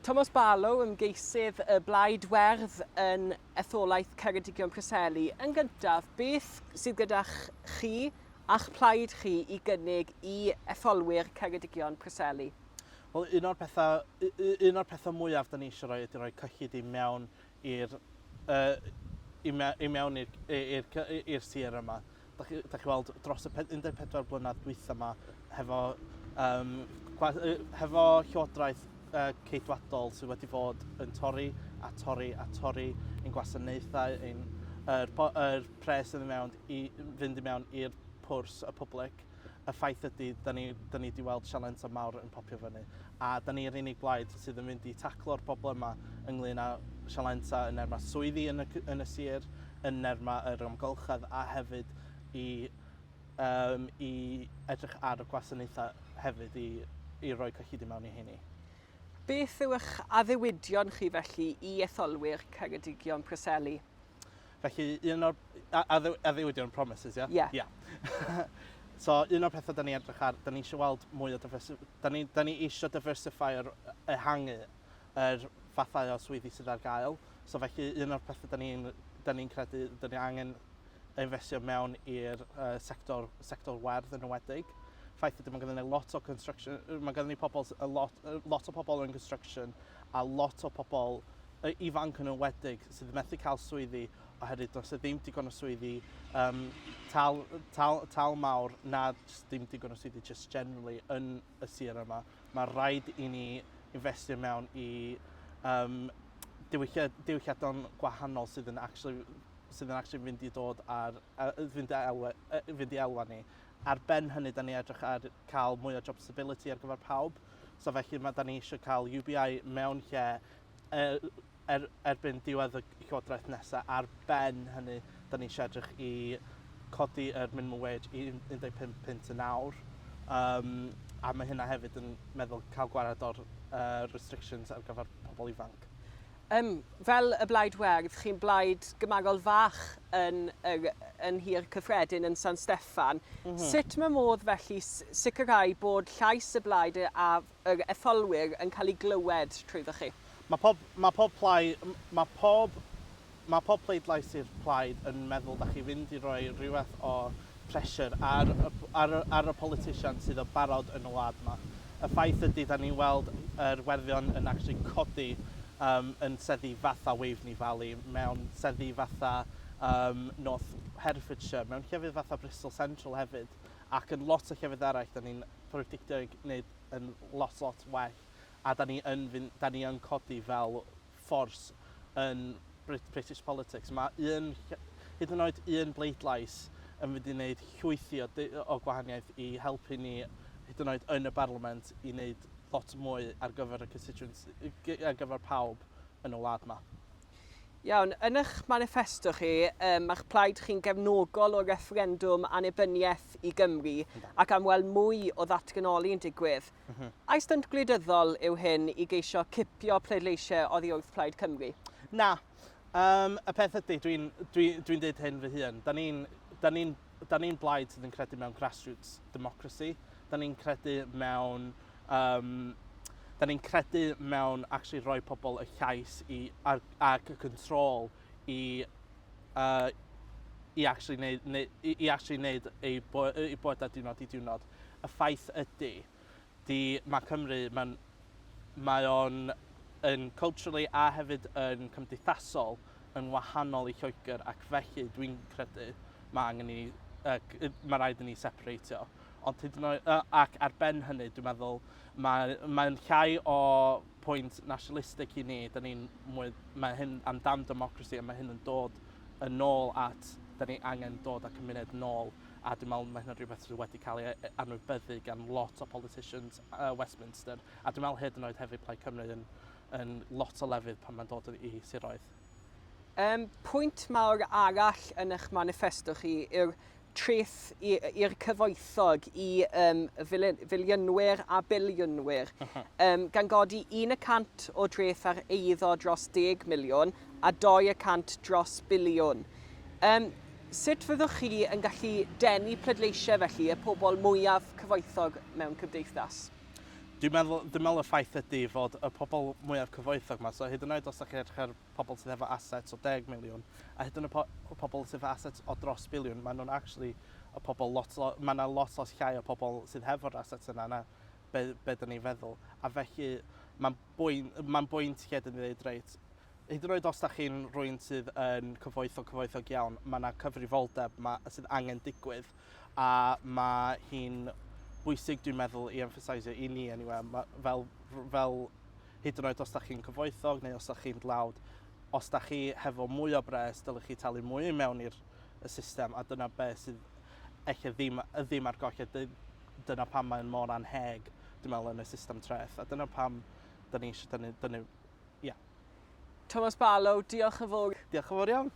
Tomos Barlow, ymgeisydd y Blaid Werdd yn etholaeth Ceredigion Preseli. Yn gyntaf, beth sydd gyda chi a'ch plaid chi i gynnig i etholwyr Ceredigion Preseli? Wel, un o'r pethau, un o'r pethau mwyaf da ni eisiau rhoi ydy rhoi cyllid i mewn i'r yy i me- i mewn i'r i i'r cy- i i'r sir yma. Dach chi dach chi weld dros y pe- 14 blynadd dwytha 'ma hefo yym gwa- yy hefo Llywodraeth yy Ceidwadol sy wedi fod yn torri a torri a torri ein gwasanaethau ein yr po- yr pres sydd i mewn i fynd i mewn i'r pwrs y public. y ffaith ydy, da ni, da ni di weld sialens o mawr yn popio fyny, a da ni'r unig blaid sydd yn mynd i taclo'r problemau ynglyn â sialensau yn nerma swyddi yn y, yn y sir, yn nerma yr amgylchedd a hefyd i, um, i edrych ar y gwasanaethau hefyd i, i roi cyllid i mewn i heini. Beth yw'ch addewidion chi felly i etholwyr Ceredigion Preseli? Felly, un o'r... Addewidion, promises, ie? Ie. Ie. So, un o'r pethau da ni edrych ar, da ni eisiau weld mwy o diversify... Da ni, da ni eisiau diversify yr ehangu yr fathau o swyddi sydd ar gael. So, felly, un o'r pethau da ni'n da ni credu, da ni angen investio mewn i'r uh, sector, sector werdd yn ywedig. Ffaith ydy, mae gennym ni lot o construction, mae gennym ni pobl, a lot, lot o pobl yn construction a lot o pobl y ifanc yn enwedig sydd methu cael swyddi oherwydd does e ddim digon o swyddi um, tal, tal, tal mawr na ddim digon o swyddi just generally yn y sir yma. Mae rhaid i ni investio mewn i um, diwylliadon gwahanol sydd yn actually sydd yn actually fynd i dod ar, fynd, i elwa, fynd i elwa ni. Ar ben hynny, da ni edrych ar cael mwy o job stability ar gyfer pawb. So felly, mae da ni eisiau cael UBI mewn lle er, er, erbyn diwedd y llywodraeth nesaf. Ar ben hynny, da ni eisiau edrych i codi yr er minimum wage i 15 pint yn awr. Um, a mae hynna hefyd yn meddwl cael gwared o'r uh, restrictions ar gyfer pobl ifanc. Um, fel y blaid werdd, chi'n blaid gymagol fach yn, yn, yn hir cyffredin yn San Steffan. Mm -hmm. Sut mae modd felly sicrhau bod llais y blaid a, yr etholwyr yn cael ei glywed trwyddoch chi. Mae pob, mae pob plai, mae pob, mae pob pleidlais i'r plaid yn meddwl da chi fynd i roi rhywbeth o pressure ar, ar, ar y politician sydd o barod yn y wlad yma. Y ffaith ydy da ni'n weld yr werthion yn actually codi um, yn seddi fatha Waveney Valley, mewn seddi fatha um, North Herefordshire, mewn llefydd fatha Bristol Central hefyd, ac yn lot o llefydd eraill da ni'n predictio i wneud yn lot lot well a 'da ni yn fynd... 'da ni yn codi fel force yn Brit- British politics. Mae un ll- hyd yn oed un bleidlais yn mynd i wneud llwyth i o d- o gwahaniaeth i helpu ni hyd yn oed yn y Barliament i wneud lot mwy ar gyfer y constituents- ar gyfer pawb yn y wlad 'ma. Iawn, yn eich maniffesto chi, um, mae'ch plaid chi'n gefnogol o refferendwm annibyniaeth i Gymru ac am weld mwy o ddatganoli yn digwydd. Mm -hmm. A'i stynt gwleidyddol yw hyn i geisio cipio pleidleisiau oddi wrth plaid Cymru? Na. Um, y peth ydy, dwi'n dwi, dwi dweud hyn fy hun, da ni'n ni 'da ni'n blaid sydd yn credu mewn grassroots democracy, 'da ni'n credu mewn um, da ni'n credu mewn actually rhoi pobl y llais i, ar, ac y control i, uh, i actually neud, neu, i, i actually neud eu, bo, eu bywydau diwrnod i diwrnod. Y ffaith ydy, 'di ma' Cymru, ma'n, mae o'n yn culturally a hefyd yn cymdeithasol yn wahanol i Lloegr ac felly dwi'n credu ma' angen i ni, ma' raid i ni separatio. Ond hyd yn oed, ac ar ben hynny dwi'n meddwl mae, mae'n llai o pwynt nationalistic i ni, da ni'n mwy, mae hyn amdan democracy a mae hyn yn dod yn ôl at, da ni angen dod â cymuned nôl a dwi'n meddwl ma' hynna'n rhywbeth sydd wedi cael ei e- e- anwybyddu gan lot o politicians uh, Westminster, a dwi'n meddwl hyd yn oed hefyd Plaid Cymru yn, yn lot o lefydd pan mae'n dod i siroedd. Um, pwynt mawr arall yn eich manifesto chi yw'r treth i'r cyfoethog i um, filiynwyr a biliynwyr, uh -huh. um, gan godi 100 o dreth ar eiddo dros 10 miliwn a 200 dros biliwn. Um, Sut fyddwch chi yn gallu denu pleidleisiau felly y pobl mwyaf cyfoethog mewn cymdeithas? Dwi'n meddwl, dwi'n meddwl y ffaith ydy fod y pobl mwyaf cyfoethog yma, so hyd yn oed os da chi'n edrych ar pobl sydd efo assets o deg miliwn, a hyd yn y pobl sydd efo assets o dros biliwn, maen nhw'n actually y pobl lot, lot, mae yna lot lot llai o pobl sydd hefo'r assets yna na be, be dyn ni'n feddwl. A felly, mae'n bwynt, mae'n bwynt lle dyn ni'n dweud, reit, Hyd yn oed os da chi'n rwy'n sydd yn cyfoethog cyfoethog iawn, mae yna cyfrifoldeb ma, sydd angen digwydd a mae hi'n bwysig dwi'n meddwl i emphasisio i ni anyway, ma, fel, fel hyd yn oed os da chi'n cyfoethog neu os da chi'n dlawd, os da chi hefo mwy o bres dylech chi talu mwy i mewn i'r y system a dyna beth sydd eich ddim, y ddim ar goll a dyna pam mae'n mor anheg dwi'n meddwl yn y system treth a dyna pam da ni eisiau dynnu, dynnu Ie. Tomos Barlow, diolch yn fowr. Diolch yn fowr iawn.